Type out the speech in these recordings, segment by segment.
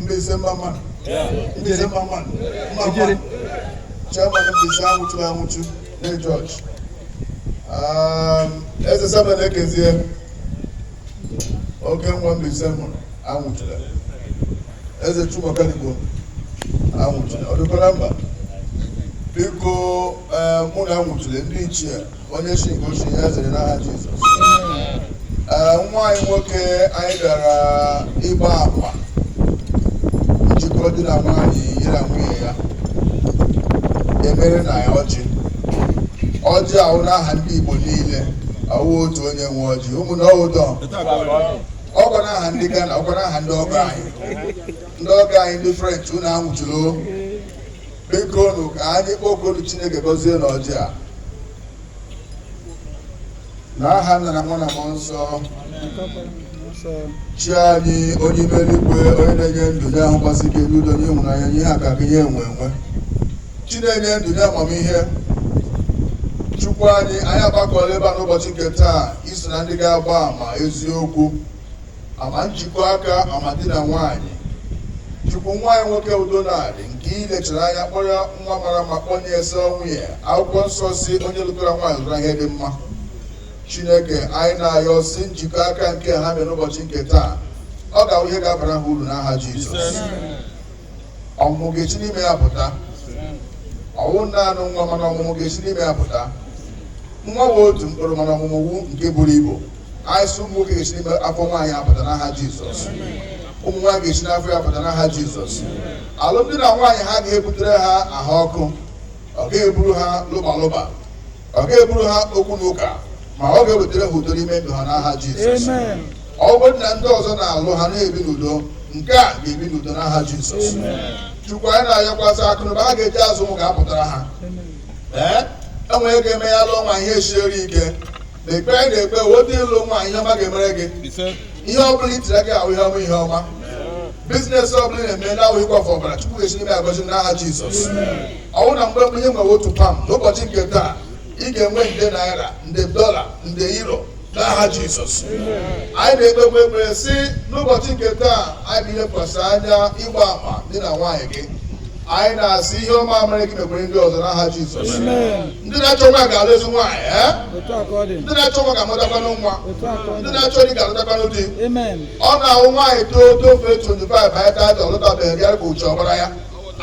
Mbaise mma mma nụ Mbaise mma mma nụ mma mma nụ chairman Mbaise anwụchu anwụchula George eze saba na-ekezie oke nwa Mbaise mụrụ anwụchula eze Chukwukaligbo anwụchula ọ dịkwara mba biko ụmụnna anwụchule ndị ichie onye si nke o si ya zere n'aha Jizọs ee nwa anyị nwoke anyị bịara ịgba akwa njikọ di na nwaanyị yi na nwunye ya emere na ya ọjị ọjị a wụ n'aha ndị Igbo niile awụ otu onye nwe ọjị ụmụnne ọ wụ udo ọkwa n'aha ndị Ghana ọkwa n'aha ndị ọgọ anyị ndị ọgọ anyị ndị French unu anwụchule bikonu ka anyị kpọkuonu chineke gọzie nụ ọjị a n'aha nna na nwa na mmụọ nsọ chi anyị onye mere eluigwe onye na-enye ndụ nye ahụ gbasiri ike n'udo nye ịhụnanya nye ihe akụakụ nye enwe enwe chi na-enye ndụ nye amamihe chukwu anyị anyị agbakọla ebe a n'ụbọchị nke taa iso na ndị ga-agba ama eziokwu Ama njikọ aka ama di na nwaanyị chukwu nwa anyị nwoke udo na-adị nke i lechara anya kpọrọ nwa mara mma kpọnye ezi nwunye akwụkwọ nsọ sị onye lụtara nwaanyị lụtara ihe dị mma chineke anyị na-ayọ sị njikọ aka nke ha mere n'ụbọchị nke taa ọ ga-awụ ihe ga-abara ha uru n'aha jizọs ọmụmụ ga-esi n'ime ya pụta ọ wụ naanị nwa mana ọmụmụ ga-esi n'ime ya pụta nwa wụ otu mkpụrụ mana ọmụmụ wụ nke buru ibu Anyị sị ụmụ nwoke ga-esi n'ime afọ nwaanyị apụta n'aha Jizọs. Ụmụ nwaanyị ga-esi n'afọ ya apụta n'aha Jizọs. Alụmdi na nwaanyị ha ga-ebutere ha ahụ ọkụ. Ọ ga-eburu ha lụba lụba. Ọ ga-eburu ha okwu na ụka. Ma ọ ga-ewetara ha udo n'ime ndụ ha n'aha Jizọs. Ọ bụrụ na ndị ọzọ na-alụ ha na-ebi n'udo, nke ha ga-ebi n'udo n'aha Jizọs. Chukwu anyị na-ayọkwa sị akụnụba ha ga-eji azụ ụmụ ga-apụtara ha. Ee, e nwere ike eme ya lụọ nwa ihe siere ike na ekpe anyị na-ekpe otu ịlụ nwaanyị ihe ọma ga-emere gị ihe ọ bụla i tiri aka awụ ihe ọma ihe ọma bizinesi ọ bụla ị na-eme na-awụ ịkwafu ọbara chukwu ga-esi n'ime agọzi n'aha jizọs ọ wụ na mgbe mbụ i nwere otu pam n'ụbọchị nke taa ị ga-enwe nde naira nde dọla nde euro n'aha jizọs anyị na-ekpekwa ekpere sị n'ụbọchị nke taa anyị bụ ilekwasị anya ịgba ama di na nwaanyị gị anyị na-asị ihe ọma mere gị mekwere ndị ọzọ n'aha jizọs ndị na-achọ nwa ga-alụ ezi nwaanyị ee Otu a ka ọ dị. ndị na-achọ nwa ga-amụtakwanụ nwa Otu a ka ọ dị. ndị na-achọ di ga-alụtakwanụ di Amen. ọ na-awụ nwaanyị too tofee 25 anyị taata ọ lụtabeghị di ka uche ọ gbara ya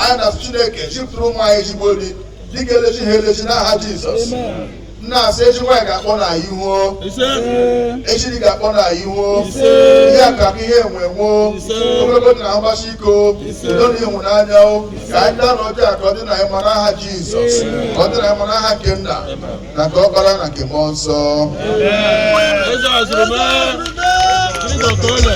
anyị na-asị chineke zipụtara ụmụ anyị ezigbo di di ga-elezi ha elezi n'aha jizọs Amen. m na-asị ezi nwaanyị ga-akpo unu ihu Ee. ezi di ga-akpo unu ihu Ise. ihe akụ akụ ihe enwe enwe Ise. ogologo ndụ na mgbasi ike o Ise. udo na ịhụnanya o ka anyị taanụ ọjị a ka ọ dịrị anyị mma n'aha jizọs ka ọ dịrị anyị mma n'aha nke nna na nke ọkpara na nke mmụọ nsọ Eze Azụrụme, Jizọs Ole.